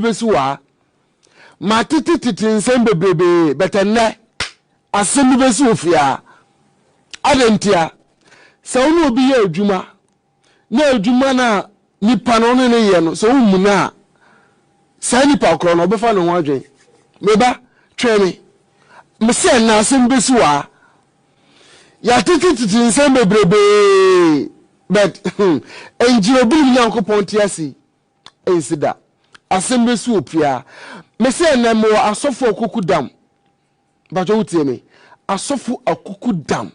bɛsi wɔ ha matete tete nsɛm bebrebe bɛtɛ nnɛ asɛm bi bɛsi wɔ fie ha adɛ ntia sɛ wo ne obi yɛ adwuma na adwuma no a nipa no ne ne yɛ no sɛ womu no a saa nipa korɔ no ɔbɛfa ne ho adwen meba twɛn me mesɛ na asɛm bɛsi wɔ ha Yɛatete tete nsɛm bebrebee, but hmm, ɛnkyerɛ obinom Nyankopɔn te ase yi, ɛnsi da. Asɛm bɛsi wɔ pia. Me sɛ ɛnɛ mewɔ asɔfo akuku dam. Mpakyɛ wotie me. Asɔfo akuku dam.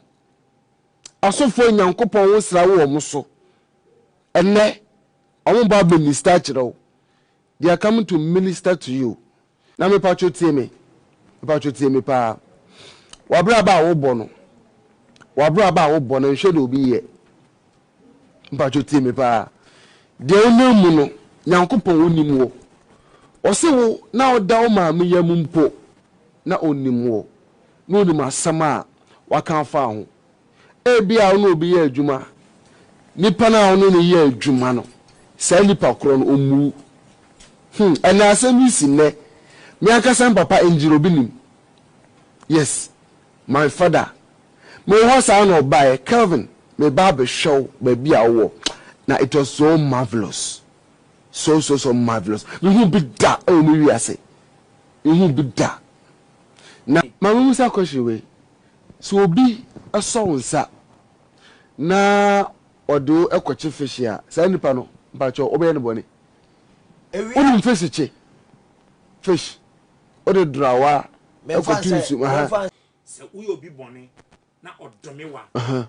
Asɔfo a Nyankopɔn wo sra wo wɔn so. Ɛnɛ, wɔn ba minister kyerɛ wo. They are coming to minister to you na mepatwo tie me mepatwo tie me paa wabraba a wobɔ no wabraba a wobɔ no nhwɛ de obi yɛ mepatwo tie me paa deɛ wonam mu no nyankopɔn wonim wo ɔse wo na ɔda wo maame yam mpo na onim wo na onim asɛm a waka afa ho Ebia wo ne obi yɛ adwuma a, nipa no a wo ne no yɛ adwuma no, saa nipa korɔ no, ɔmmuu. Hmm, ɛnna asɛm yi si nnɛ. Me ankasa me papa Engineer Obinim, yes, my father, mewɔ hɔ saa na ɔbaeɛ, Kelvin, meba abɛhwɛ wo baabi a wowɔ, na it was so marvellous, so so so marvellous. Mehu bi da wɔ me wiase, mehu bi da. Na ma memusa question wei, Sɛ obi sɔ wo nsa na ɔde wo kɔkye fehye a, saa nipa no, mpakyɛw, wobɛyɛ no bɔne. Wonim fesikye, fish, wode dorawa kɔto nsu mu, aha. Sɛ woyɛ obi bɔne na ɔdome wo a,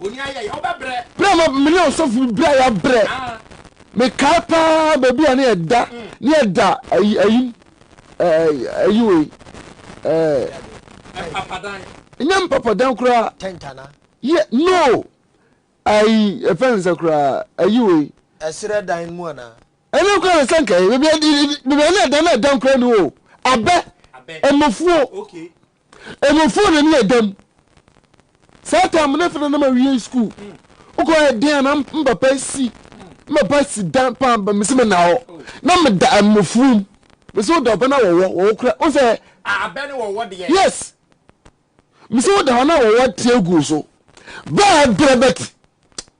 Berɛ a ma me ne ɔsɔfo bi bra yɛ brɛ mekae paa baabi a ne yɛ da ne yɛ da ayi ayi ayi wei ɛɛ nyɛ mpapadan koraa yɛ no ayi ɛfɛn nsa koraa ayi wei ɛserɛ dan mu ana ɛne koraa na sɛ nkae baabi a ne yɛ da na ɛdan koraa ni o abɛ ɛmɔfuo Emu fo na ne yɛ dam. Saa tam ne fena na ma wiei school. Wokɔ yɛ den a na mpapa si mpapa si dan paa ba mesi me na hɔ. Na me da mo fuom. Mesi wo da ɔbɛ na wɔwɔ wɔwɔ kura. Wo sɛ. A abɛ ne wɔwɔ deɛ. Yes. Mesi wo da hɔ na wɔwɔ teɛ gu so. Bɛɛ brɛ bɛti.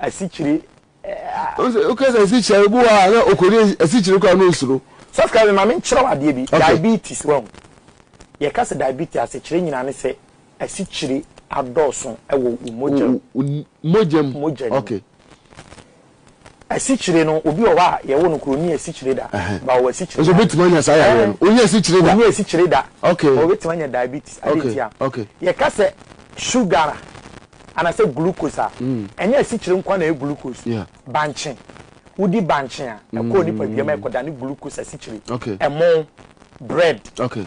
asikyire a. Woka sɛ asikyire a, ebi wɔ hɔ a na ɔkɔdi asikyire koraa na ɔsuro. Subscribe me ma me nkyerɛ wo adeɛ bi. Diabetes wahu. Yɛka sɛ diabetes asekyerɛ nyinaa ne sɛ asikyire adɔɔso wɔ wo mogya mu. Wo mogya mu. Mogya mu. Okay. Asikyire no, obi wɔ hɔ a yɛwo no koro ɔnni asikyire da, but ɔwɔ asikyire da. Nso obetumi anya saa yareɛ no? Ɔnni asikyire da. Ɔnni asikyire da. Okay. But obetumi anya diabetes. Ade nti a. Okay. Yɛka sɛ sugar a, anasɛ glucose a, ɛnyɛ asikyire nko ara na ɛyɛ glucose. Yeah. Bankye. Wodi bankye a, ɛkɔ nipadua mu a ɛkɔdane glucose asikyire. Okay. Ɛmo, bread. Okay.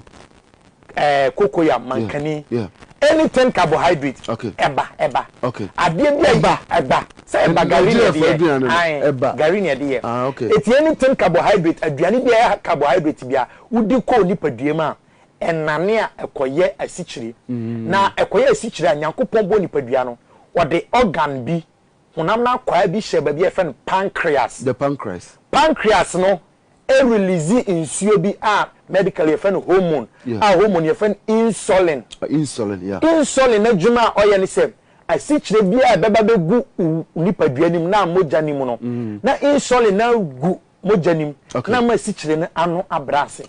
eh, kokoyam mankani yeah, yeah. anything carbohydrate okay. ɛba ɛba okay. adeɛ bi ɛba ɛba sɛ ɛba gari na ɛde yɛ ɛba gari na ɛde yɛ ah, okay. eti anything carbohydrate aduane bi ɛyɛ carbohydrate bi a wodi kɔɔ nipadua mu a ɛnane a ɛkɔyɛ asikyire mm. na ɛkɔyɛ asikyire a nyankopɔn bɔ nipadua no ɔde organ bi honam no akwaa bi hyɛ baabi a yɛfrɛ no pancreas the pancreas pancreas no e release nsuo bi a medically yɛfrɛ no hormone a hormone yɛfrɛ no insulin insulin n'adwuma a ɔyɛ ne sɛ asikyire bi a ɛbɛba bɛgu wo nipadua no mu na mogya no mu no na insulin no agu mogya no mu na ama asikyire no ano abrɛ ase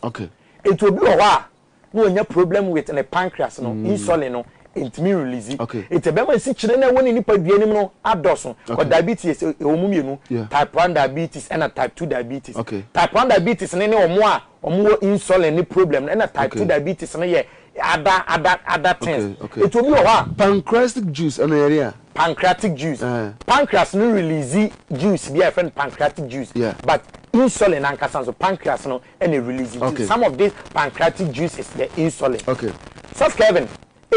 nti obi wɔ hɔ a na ɔnya problem with ne pancreas no insulin no ɛntumi release ɛti ɛbɛma nsikyire no ɛwɔ ne nipa dua no mu no adɔso kɔ diabetes ɛwɔ mu mmienu type 1 diabetes ɛna type 2 diabetes type 1 diabetes no ne ɔmo a ɔmo wɔ insulin ne problem no ɛna type 2 diabetes no yɛ ada ada ada things ɛti obi wɔ hɔ a pancreatic juice ɛna yɛre a pancreatic juice eh. pancreas no release juice bi a yɛfrɛ no pancreatic juice but insulin ankasa nso pancreas no ɛna release nti okay. some of this pancreatic juice is the insulin okay. sɔs kevin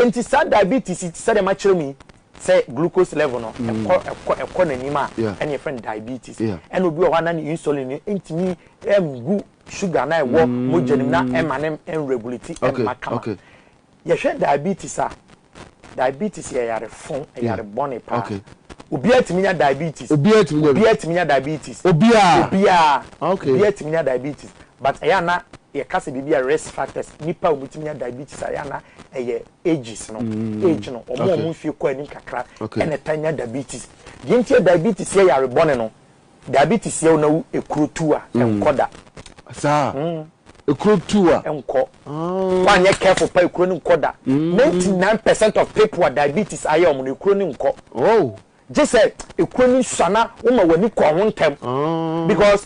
nti saa diabetes ti sɛ deɛ ma kyerɛ mu yi sɛ glucose level no mm. ɛkɔ ɛkɔ ɛkɔ n'anim a ɛna yɛfrɛ no diabetes ɛna obi wɔ hɔ a na ne insulin no ntumi ɛngu sugar na ɛwɔ mm. mogya nim na ɛma ne ɛnregulate ɛma kama yɛhwɛ diabetes a Diabetes yɛ yare fo, yare bɔne paa. Okay. Obiara tumi nya diabetes. Obiara tumi nya. Obiara tumi nya diabetes. Obiara. Obiara. Okay. Obiara tumi nya diabetes. But ɛyɛ ana yɛ kasa biribi a risk factors nipa a wɔn tumi nya diabetes a ɛyɛ ana ɛyɛ ages no. Mm. Age no wɔn a wɔn mfie kɔ anim kakra ɛna ta nya diabetes. Deɛ nti yɛ diabetes yɛ yare bɔne no Dabi te siaw na wo ekuro tu a nkɔ da. Saa? Ekuro tu a. Nkɔ. Wa anyɛ careful pa ekuro no nkɔ da. Ninety nine percent of people a diabetes ayɛ wɔn no ekuro no nkɔ. Oh. Gye sɛ ekuro no sua na wo ma w'ani kɔ ho ntɛm. Because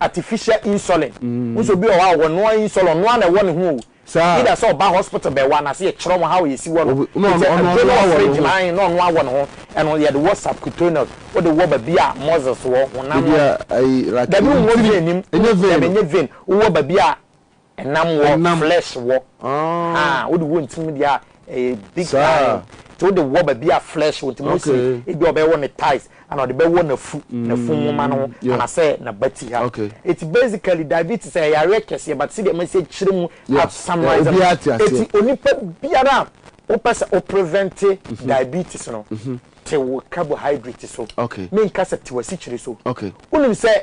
artificial insulin wo sɛ obi wɔ hɔ a ɔwɔ noa insulin ɔnoa na ɛwɔ ne ho o either sɛ ɔba hospital bɛwɔ anase yɛkyerɛ wɔn how yɛsi wɔ no ɔtɛ ɛduro no wɔ fridge ma ahen na ɔnoa wɔ ne ho ɛno yɛde wɔ subcutaneous wode wɔ babi a muscles wɔ honam no dabi wowɔ vein nim dabi ɛnyɛ vein wowɔ babi a Ɛnam wɔ, Ɛnam. flesh wɔ. Ahaa, Ah. wode wɔ ntim deɛ a, ɛyɛ big Saa. time. Nti wode wɔ baabi a flesh wɔ, nti Mose, Okay. ebi a ɔbɛwɔ ne thighs, ɛna ɔde bɛwɔ n'afu, n'afu nwoma no ho, yeah. anaasɛ n'abati ha. Okay. Nti basically, diabetes yɛ yareɛ kɛseɛ, but sɛdeɛ masi akyerɛ mu, Yeah. I've summarized Yeah, obiara te aseɛ. Nti onipa biara a wopɛ sɛ wo prevente diabetes no, te wo carbohydrate so. Okay. Menka sɛ te w'asikyire so. Okay. Wonim sɛ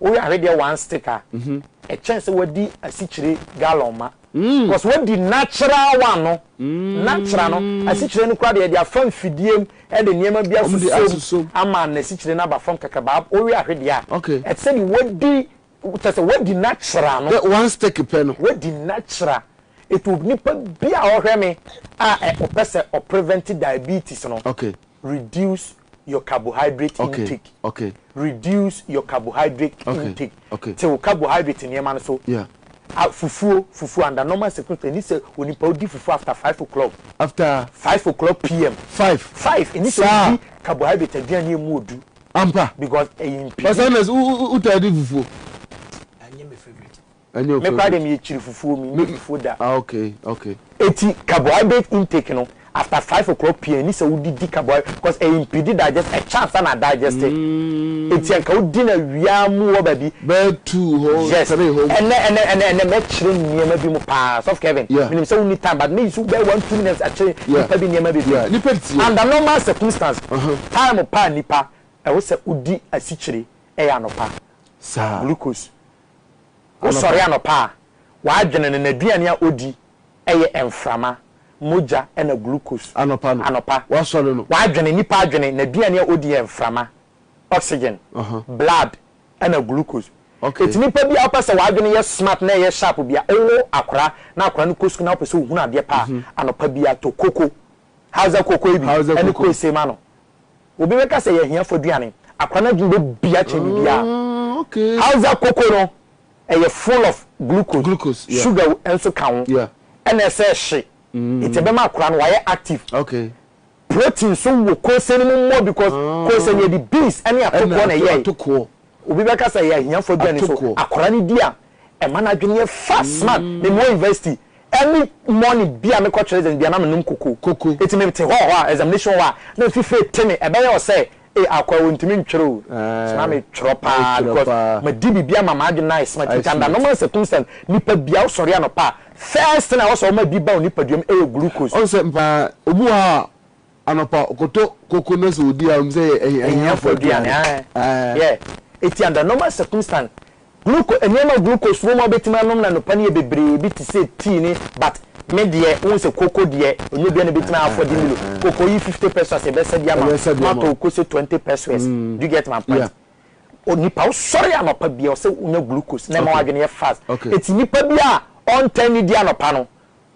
woyare deɛ one stick a ɛkyɛn sɛ wadi asikyire gallon ma cos wadi natural one no natural no asikyire no koraa deɛ yɛde afa mfidie mu de nneɛma bi asusom ama nasikyire no aba fam kakra baa wowe ahwe deɛ a ɛte sɛ deɛ wadi kyɛ sɛ wadi natural no one stick pɛ no wadi natural etu nipa bi a ɔhwɛ me a ɔpɛ sɛ ɔprevent diabetes no reduce your carbohydrate intake. Okay, okay. Reduce your carbohydrate okay, intake. Okay. Tew carbohydrate nneɛma no so. Yeah. Ah, fufuo, fufuo under normal circumstances, ɛni sɛ onipa odi fufuo after five o'clock. After. Five o'clock pm. Five. Five, ɛni sɛ odi carbohydrate aduane emu odu. Ampa. Because ɛyɛ mpidi. Ɔsɛ na o o o ta di fufuo. Ɛnyɛ my favourite. Ɛnyɛ Me koraa de me yɛ kyiri fufuo me nyɛ fufuo da. Ah okay okay. Eti carbohydrate intake no after five o'clock pm ɛni sɛ wo di di carbohydrate cause ɛyɛ impede digest ɛkyɛ ansa na adigeste eti anka wo di no awia mu wɔ baabi. Bɛyɛ two hɔ yes three hɔ. Ɛnɛ ɛnɛ ɛnɛ ɛnɛ mɛ kyerɛ nneɛma bi mu paa sɔfo Kevin yeah me nim sɛ wo nni time but mɛ use wo bɛyɛ one two minutes akyerɛ yeah nipa bi nneɛma bebree yeah nipa ti yeah under normal circumstance uh huh time paa nipa ɛwɔ sɛ wo di asikyire ɛyɛ anɔpa saa glucose. Wosɔre anɔpa a, w'adwene no, n'aduane a odi yɛ mframa, mogya na glucose. Anɔpa no, Anɔpa, wasɔre no. w'adwene, nnipa adwene, n'aduane a odi yɛ mframa, oxygen, Aha. blood na glucose. Okay. Enti nipa bi a wopɛ sɛ w'adwene yɛ smart na ɛyɛ sharp bi a, wowo akora na akora no kɔ sukuu na wopɛ sɛ ohunu adeɛ pa a, anɔpa biara tɔ koko, Hausa koko yi bi, Hausa ne koko. kose ma no. Obi bɛka sɛ yɛahiafo aduane. Akora no adwene bɛ bia kyɛn biribiara. Hausa koko no, ɛyɛ full of glucose, sugar nso ka ho, ɛna ɛsɛ hye. Nti ɛbɛma akora no wayɛ active. Protein nso wɔ kose no mu more because kose no yɛde beans ɛne atokoɔ na ɛyɛe. Obi bɛka sɛ yɛahiafo aduane nso akora no di a Ɛma n'adwene yɛ fast man. Memmɔ university. Early morning bi a mekɔ kyerɛ dzen bi a na menom koko. Koko. Ntsi metse hɔ hɔ a, examination hɔ a, na mfifir etse me. Ɛbɛyɛ wo sɛ, Ei, Akoa, wonntumi ntwer o. So na metwerɛ paa because madi biribi ama m'adwene no ayɛ smart. Ntsi under normal circumstance, nyimpa bi a ɔsɔre anɔpa a, first thing a ɔwɔ sɛ ɔma bi ba wo nyimpadua mu yɛ glucose. Ɔno sɛ, mpa, obi wɔ hɔ a, Anɔpa ɔkɔtɔ koko na sɛ ɔdi a ɔnim sɛ ɛyɛ ahiafoɔ aduane. Ɛti under normal circumstance gluco nneɛma glucose wɔ mu a wobɛtumi anom no anɔpa no yɛ bebree bi te sɛ tea ne but me deɛ wohu sɛ koko deɛ ɛnyɛ obiara na ɛbɛtumi afford milo koko yi fifty pesewas yɛbɛsa bi ama wo matɔ wo kose twenty pesewas do you get my point onipa wosɔre anɔpa biara ɔsɛ wonya glucose na ɛma w'adwene yɛ fast ɛti nipa bi a ɔntɛn ne di anɔpa no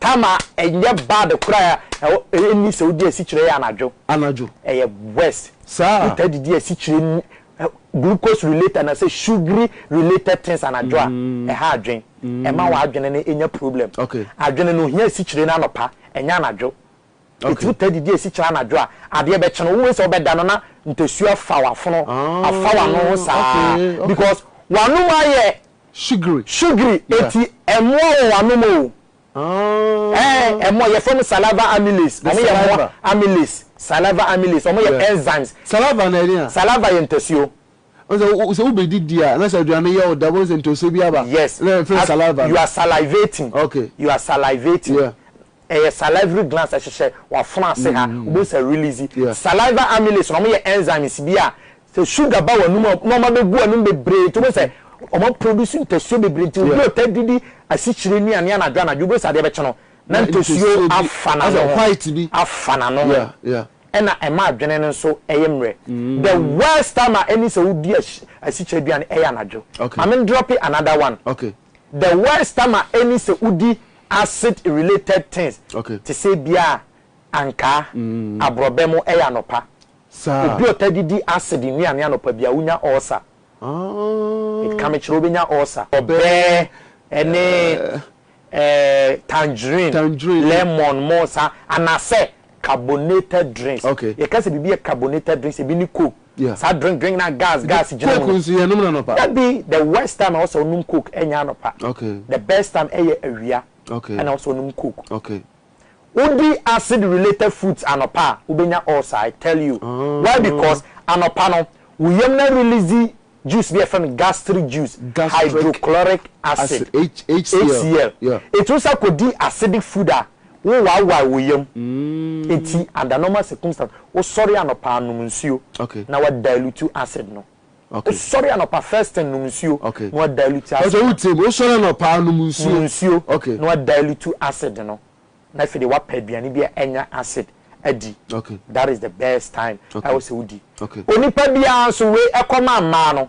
Tama ɛnyɛ bad koraa ɛwɔ ɛnni sɛ wodi asikyire yɛ anadwo. Anadwo. Ɛyɛ worse. Saa. Wotaa didi asikyire ni ɛ glucose related anasɛ sugary related things anadwo a ɛha adwen ɛma w'adwene no nya problem. Okay. Adwene no ohia asikyire no anɔpa ɛnyɛ anadwo. Etsir taa didi esi kyɛr anadwo a, adeɛ bɛkye no. Wobohu sɛ ɔbɛda no na ntasu afa w'afono, afa w'ano ho saa because w'anom ayɛ sugary eti mmoa wɔ w'anom o. Ɛɛ mmoa, yɛfrɛ wɔn saliva amylase. Wɔn yɛ mmoa amylase, saliva amylase. Wɔn yɛ enzymes. Saliva na ɛdeɛn a? Saliva yɛ ntasuo. Ɔsɛ wo sɛ wobɛdidi a na sɛ aduane yɛ wo dɛ wobohu sɛ ntasuo bi aba. Yes, you are salivating. Okay. You are salivating. Yeah. Ɛyɛ salivary glands ɛhyehyɛ w'afono ase ha, wobɛhu sɛ release saliva amylase no, wɔyɛ enzymes bi a sɛ sugar ba w'anum a na wɔabɛgu w'anum bebree nti wobɛhu sɛ wɔn a produce ntasuo bebree nti obi a ɔtaa didi asikyire nnuane anadwo anadwo wobɛhu sɛ adeɛ bɛkye no na ntasuo afa n'ano ho, afa n'ano ho ɛna ɛma adwene no nso ɛyɛ mmerɛ. The worst time a ɛne sɛ wodi asikyire aduane ɛyɛ anadwo. Maame ndrɔpe another one. The word stammer ɛne sɛ wodi acid related things te sɛ ebia ankaa, aborɔbɛ mo ɛyɛ anɔpa. Obi ɔtaa di di acid nnuane anɔpa biara wonya ulcer. Nti ka me kyerɛ wobɛnya ulcer. Ɔbɛ ɛne ɛɛ tangerine, lemon mo saa anasɛ carbonated drinks. Yɛka sɛ biribi yɛ carbonated drinks ebi ne coke. Yeah. Saa drink drink na gas Ebi gas gyina mu. coke no. nso yɛnom no anɔpa. Dabi, the worst time a ɛwɔ sɛ wonom coke ɛnyɛ anɔpa. Okay. The best time ɛyɛ awia Okay. ɛna ɛwɔ sɛ wonom coke. Okay. Wodi acid related foods anɔpa a, wobɛnya ulcer, I tell you. Ah. Why because anɔpa no, wo yam no arelease juice bi a yɛfrɛ no gastric juice, Gastric hydrochloric acid, Acid, H- HCl. HCl. Yeah. Ɛti wo sɛ kɔdi acidic food a, Wo wawae wo yam nti under normal circumstance wo sɔre anɔpa a nom nsuo na wa dilute acid no. Wo sɔre anɔpa first thing nom nsuo na wa dilute acid no. Wo sɔre anɔpa a nom nsuo. Nom nsuo na wa dilute acid no na afei deɛ wa pɛ aduane bi a ɛnya acid adi. That is the best time a ɛwɔ sɛ wo di. Onipa biara nso wei ɛkɔma mmaa no.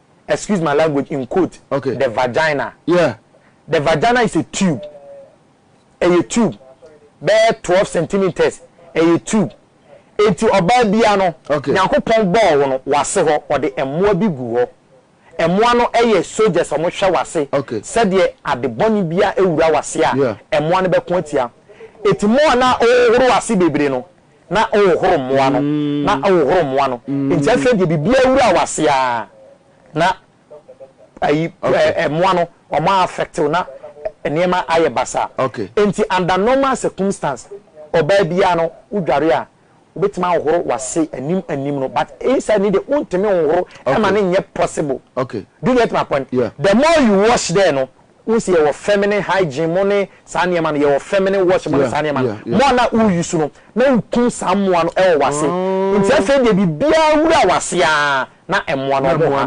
excuse my language in quote okay. the vagina yeah. the vagina is a tube ɛyɛ tube bɛyɛ twelve centimeters ɛyɛ tube eti ɔbaa bia no okay. nyankopɔn bɔɔ hɔ no wase hɔ ɔde mmoa bi gu hɔ mmoa no ɛyɛ soldiers ɔmo hwɛ wase okay. sɛdeɛ ade bɔne bia ewura wase a yeah. mmoa no bɛko atia eti mmoa na ɔhoro wase bebree no na ɔhohoro mmoa no, na ɔhohoro mmoa no. Enti afei deɛ biribiara awura wo ase ara, na ayi ɛɛ mmoa no wɔn a affect wo na nneɛma ayɛ basaa. Enti under normal circumstance, ɔbaa biara no wo dware a, wo bɛtumi ahohoro w'ase anim anim no, but inside no deɛ wo ntumi nhohoro, ɛma no nyɛ possible. Do you get my point? The more you wash there no, Wohu sɛ yɛwɔ feminine hygiene mo ne saa nneɛma no, yɛwɔ feminine wash mo ne saa nneɛma no. Mmoa no a wore use no, na wokum saa mmoa no wɔ w'ase. Nti afei deɛ biribiara wura w'ase ara na mmoa no wɔn ha,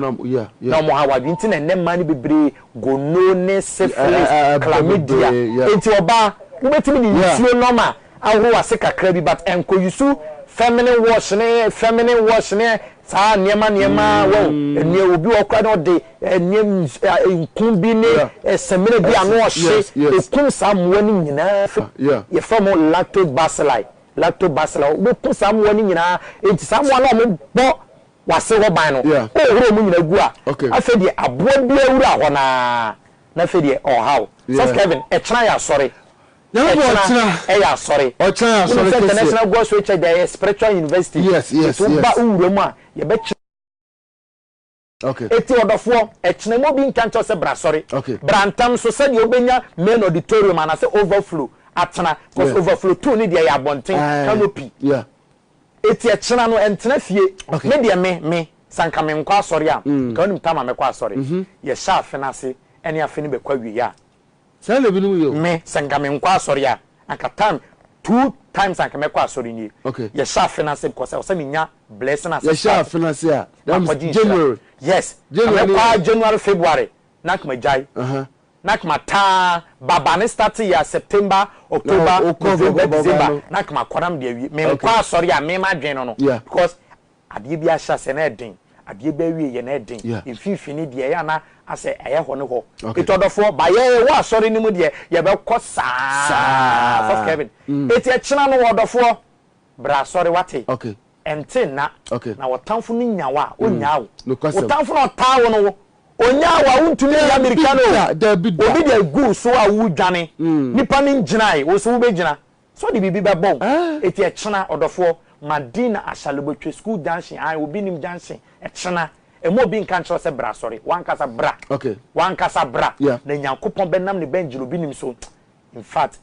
na wɔn ha w'adwene. Nti na ɛnnɛ mmaa no bebree gonone, syphilis, chlamydia. Nti ɔbaa, wobɛtumi de nsuo normal ahoro w'ase kakra bi, but nkɔ use feminine wash ne feminine wash ne Saa nneɛma nneɛma wɔ hɔ. Nneɛ obi wɔ hɔ koraa na ɔde nneɛ ns a nku bi ne Yeah. ɛ samina bi a Ɛse, na ɔhye yes, yes. ɛkum saa mmoa no nyinaa fi Ah, yeah. Yɛfrɛ wɔn lactobacilli. Lactobacilli. Wobɛku saa mmoa no nyinaa. Enti saa mmoa no a wɔbɔ w'ase hɔ ban no, Yeah. wohohoro wɔn nyinaa gu a, Okay. afei deɛ aboa biara wura hɔ no ara, na afei deɛ ɔhaw. Sɔfo Yeah. Kevin, ɛkyena yɛasɔre. Na ɛna ɛkyena ɔkyena. ɛyɛ asɔre. Ɔkyena yɛ Wonim asɔre sɛ kɛseɛ. International God's Way Church deɛ ɛyɛ spiritual university. Yes, yes, Nti woba yes. wo wura mu a yɛbɛkyerɛ. Okay. Eti ɔdɔfoɔ, ɛkyena mu obi nka nkyɛw sɛ bra sɔre. Okay. Bra ntɛm so sɛdeɛ wobɛnya main auditorium anasɛ overflow atena cause Yeah. overflow two ne deɛ ɛyɛ abɔnten Aye. canopy. Yeah. Eti ɛkyena no ɛntena fie. Okay. Me deɛ me, me, sɛ anka menkɔ asɔre a, nka wonim tam a mɛkɔ asɔre. Yɛhyɛ afe no ase ɛne afe no bɛkɔ awieɛ a, Saa na ebinom yɛ o. Me sɛ nka me nkɔ asɔre a anka time two times anka mɛkɔ asɔre nie okay. Yɛ hyɛ afe no ase because ɛwɔ sɛ me nya blessing as a start. Yɛ hyɛ afe no ase a that means January. Yes ka mɛ kɔ ara January February na anka ma gyae uh -huh. na anka ma taa ba ba ne start yɛ a September October no, November December no. na anka ma kɔ na me de awie me nkɔ okay. asɔre a me ma adwene no no yeah. because Adeɛ bi ahyɛ aseɛ na ɛyɛ den, adeɛ bi awieɛ na ɛyɛ den, mfimfini deɛ ɛyɛ a na asɛ ɛyɛ hɔ ne hɔ. Enti ɔdɔfoɔ, ba yɛ yɛwɔ asɔre no mu deɛ yɛbɛkɔ saa, Ɔsɔfo Kevin, enti ɛkyena no ɔdɔfoɔ, bra asɔre, wate? Ɛnte nna, na ɔtamfo no nya wo a, ɔnnyaa wo. Wo tamfo no a ɔtaa wo no, ɔnyaa wo a, wontumi nnya mmirika no o. Obi de agu wo so a woredwane, nnipa no ngyinaeɛ, wo nso wobɛgyina. So ɔde biribi bɛbɔ wo? Eti ɛkyena, ɔdɔfoɔ, ma din na Ashale bɛtwa school junction, ae, obi nim junction, ɛkyena, ɛmma obi nka nkyerɛ wo sɛ bra asɔre, w'ankasa bra, w'ankasa bra, na Nyankopɔn bɛnam ne bangel obi nim so, infact,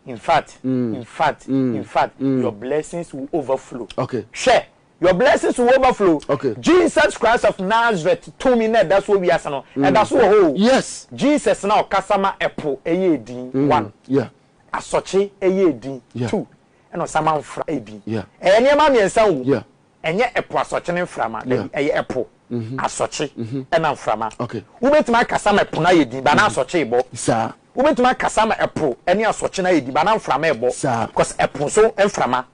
infact, infact, infact, your blessings will overflow, hwɛ, your blessings will overflow, Jesus Christ of Nazareth tumi na ɛda so wɔ wiase no, ɛda so wɔ hɔ o, Jesus na ɔkasa ma ɛpo ɛyɛɛ din, one. asɔkye yɛ edin, tu, ɛna ɔsama mfra yɛ edin. Ɛyɛ nneɛma mmiɛnsa wɔ mu. Ɛnyɛ ɛpo asɔkye ne mframa, dabi, ɛyɛ ɛpo, asɔkye, ɛna mframa. Wobɛtumi akasa ma ɛpo no ayɛ edin, but na asɔkye rebɔ. Wobɛtumi akasa ma ɛpo ne asɔkye no ayɛ edin, but na mframa rebɔ, cause ɛpo nso mframa,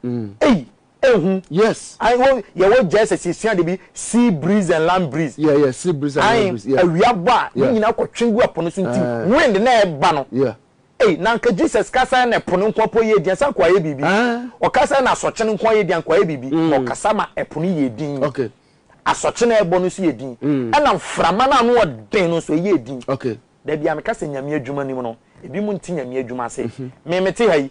ei, Ehu. Yes. Ae wo yɛ wɔ gyɛɛsɛs yɛ sua ade bi sea breeze and land breeze. Yeah yeah sea breeze and land breeze yeah. Ae awia bɔ a ne nyinaa kɔ twe gu ɛpo no so nti wind na ɛba no. Yeah. Ei na anka Jesus ka sɛ na ɛpo no nko po yɛ din ɛsan kɔ ayɛ biribi. Ɔka sɛ na asɔkye no nko ayɛ din ankɔ ayɛ biribi. Ɔkasa ma ɛpo no yɛ din. Okay. Asɔkye na ɛbɔ no nso yɛ din. Ɛna mframa no ano ɔden no nso ɛyɛ din. Okay. Dabi a meka sɛ nyame adwuma nim no ebi mo nte nyame adwuma ase. Me mete ha yi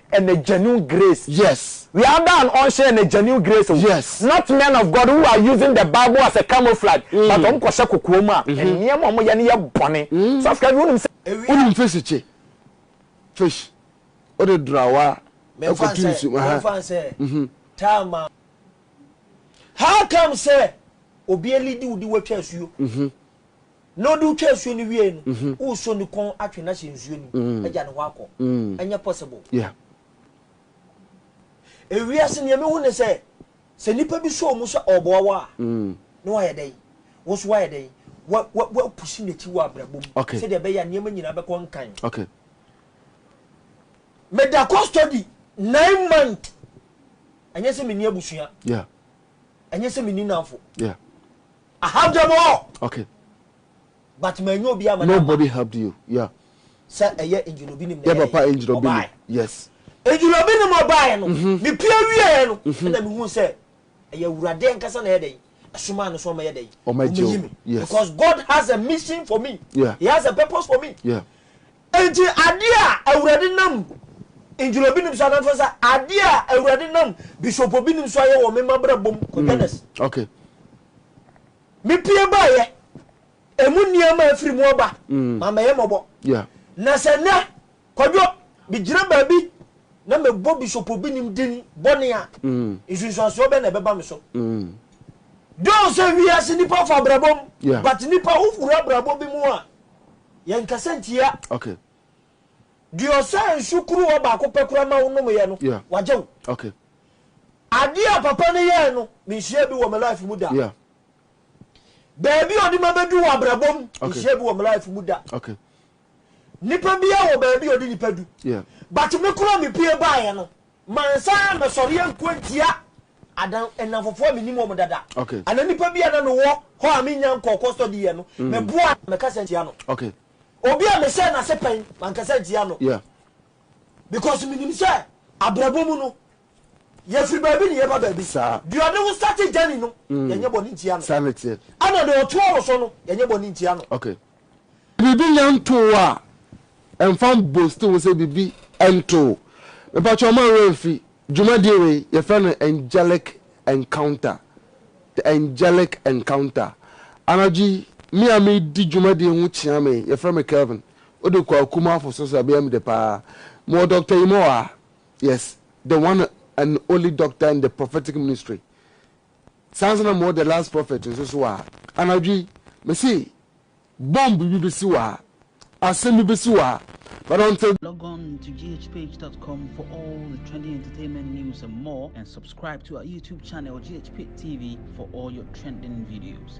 ɛnɛ genuine grace. Yes. We are da an ɔnhyɛ ɛnɛ genuine grace o. Yes. Not men of God who are using the bible as a camouflage mm. but wɔn kɔhyɛ kokoɔ mu a mm -hmm. nneɛma wɔn yɛ no yɛ bɔne. Mm. Sɔfkɛ bi wonim sɛ. Wonim fish kye fish wode drawa ɛkɔtu nsu. Mɛfa nsɛ mhm. taama. How come sɛ obi elidi wo di watwa asuo. Mhm. Na ɔde wo twa nsuo no wiee no, woresɔ ne kɔn atwe no ahyɛ nsuo no mu agya ne hɔ akɔ? Ɛnyɛ possible. Ewiase nea mehu ne sɛ, sɛ nipa bi sɔ mu sɛ ɔɔboa wo a, na wayɛ dɛn? Wo nso wayɛ dɛn? Wa wa wa pusi n'akyi wɔ abrabɔ mu sɛdeɛ ɛbɛyɛ a nneɛma nyinaa bɛkɔ nkan. Me da custody nine month, ɛnyɛ sɛ menni abusua, ɛnyɛ sɛ menni nnamfo. I have them all. Okay. But ma enyo obi ama na. Nobody helped you. Yeah. Sɛ ɛyɛ engine obi nim na ɛyɛ. Yɛ papa engine obi nim. Yes. Engine obi nim ɔbaa no. Me pie wie yɛ no. Ɛna me hu sɛ ɛyɛ awurade ankasa na ɛyɛ dɛ. Ɛsoma no so ɔmɛ yɛ dɛ. Ɔmɛ yi me. Yes. Because God has a mission for me. Yeah. He has a purpose for me. Yeah. Enti adeɛ a Awurade nam Angelo binom so anaa sɛ adeɛ a Awurade nam Bishop binom so ayɛ wɔ me mabrabɔ mu kɔ Dennis. Mm, okay. Me pie baayɛ, emu nneɛma a afiri mu aba, mm. ma mɛyɛ mɔbɔ. Yeah. Na sɛ nɛ, kwadwo, megyina baabi na mebɔ Bishop binom din bɔne a, mm. nsunsuansoɔ bɛ na ɛbɛba me so. Mm. Dɔw sɛ wiase nipa fa abrabɔ mu, yeah. but nipa wofura abrabɔ bi mu a, Yɛnkasa ntia. Okay. Deɛ ɔsaa nsu kuruwa baako pɛ koraa ma wo nomeeɛ no, Yeah. wagye wo. Okay. Adeɛ a papa no yɛɛ no, menhyiaa bi wɔ me life mu da. Yeah. Baabi a ɔde ma bɛdu wɔ abrabɔ mu, Okay. menhyiaa bi wɔ me life mu da. Okay. Nipa biara wɔ baabi a ɔde nipa du. Yeah. But me koraa mepue baeɛ no, Mansan ammɛsɔre anko antia adan nnamfofoɔ a mennim wɔn dada anaa nnipa bi a na mewɔ hɔ a mennya nkɔɔ kɔstɔdi yɛ no. Meboa no, mɛkasa ntia no. Obi a mehyɛɛ no ase pɛn, mankasa ntia no. Because menim sɛ abrabɔ mu no, yɛfiri baabi na yɛba baabi. Deɛ ɔde wo starte journey no, yɛnyɛ bɔne ntia no. Ɛna deɛ ɔtoa wo so no, yɛnyɛ bɔne ntia no. Biribi nyɛ ntoo a, ɛmfa mbosti ho sɛ biribi ntoo. Mepakyɛw mma werɛ mfi dwumadi wei, yɛfrɛ no Angelic Encounter, The Angelic Encounter. Anadwo yi, me a meredi dwumadi yi ho kyea me yi, yɛfrɛ me Kelvin, wode kɔ Akumafo so so a, ɛbɛyɛ me dɛ paa. Mewɔ Doctor Yimɔwaa, yes, the one and only doctor in the prophetic ministry. Saa nso na mowɔ The Last Prophet nso so a, anadwo yi, mese bomb bi besi hɔ a, asɛm bi besi hɔ a, but until. Log on to GHPage.com for all the trending entertainment news and more, and subscribe to our YouTube channel GHP TV for all your trending videos.